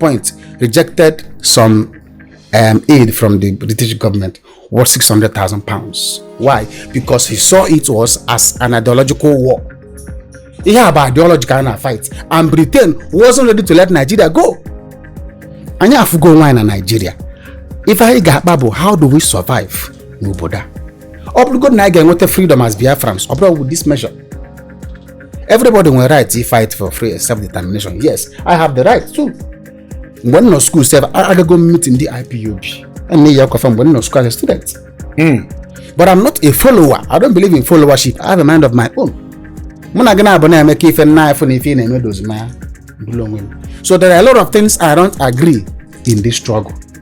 point rejected some um, aid from the British government worth 600,000 pounds. Why? Because he saw it was as an ideological war. Ihe a bụ ideological fight, and Britain wasn't ready to let Nigeria go. Anyị afụgo onwe anyị na Nigeria. Ife anyị ga-akpa bụ, how do we survive n'obodo a? Ọ bụrụgodu na anyị ga-enweta freedom as Biafrans, ọ bụrọ with this measure. everybody nwere right to fight for free self determination yes i have the right too mgbe m nọ skuul sef agago m meeting ndị ipob a na-eyi akwafa mgbe m nọ skuul as a student hmm. but i'm not a follower i don't believe in followership i have a mind of my own mụ na gị na-abụ na-eme ka ife m na-afụ na ife ị na-eme edozi m anya bụrụ onwe m so there are a lot of things i don't agree in this struggle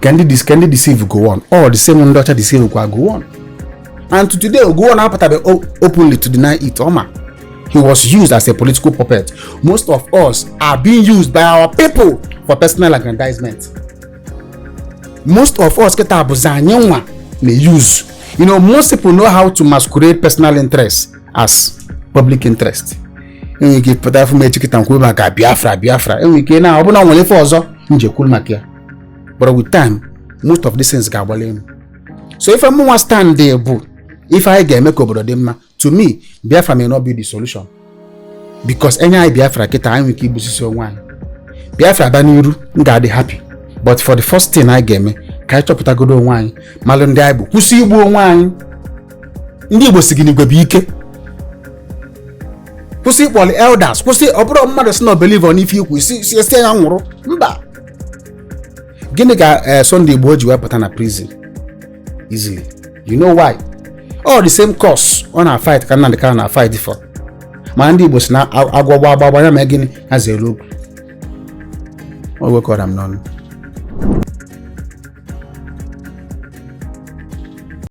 ka ndị dis ka ndị deceive gowon all the same ndị ọcha deceive kwa gowon and to today gowon apụtabe openly to deny it ọ ma he was used as a political puppet most of us are being used by our people for personal aggrandizement most of us kịta bụzi anyị nwa na use you know most people know how to masquerade personal interest as public interest e nwere ike pụta afụ m echi kịta na-ekwu maka biafra biafra e nwere ike na ọ bụ na e nwere ife ọzọ m ji ekwuru maka ya but with time most of these things ga-agbali elu so ife mụnwa stand bụ ife anyị ga-eme ka obodo dị mma to me biafra may not be the solution because e nye anyị biafra kịta anyị nwere ike igbusịsị onwe anyị biafra abịa n'iru m ga-adị happy but for the first thing anyị ga-eme ka anyị chọpụtagodo onwe anyị malụ ndị anyị bụ kwụsị igbu onwe anyị ndị igbo sị gị na igwe bụ ike kwụsị ịkpọlị elders kwụsị ọ bụrụ mmadụ sị na o believe n'ife i kwu sị sị e sị na ya nwụrụ mba gịnị ka eh, Sunday Igboho ji wepụta na prison easily you know why all the same cause ọ na fight ka Nnamdi Kanu na fight for mana ndị Igbo sị na agwọ gba agba ya ma gịnị ha zere okwu o wekọrọ m n'ọnụ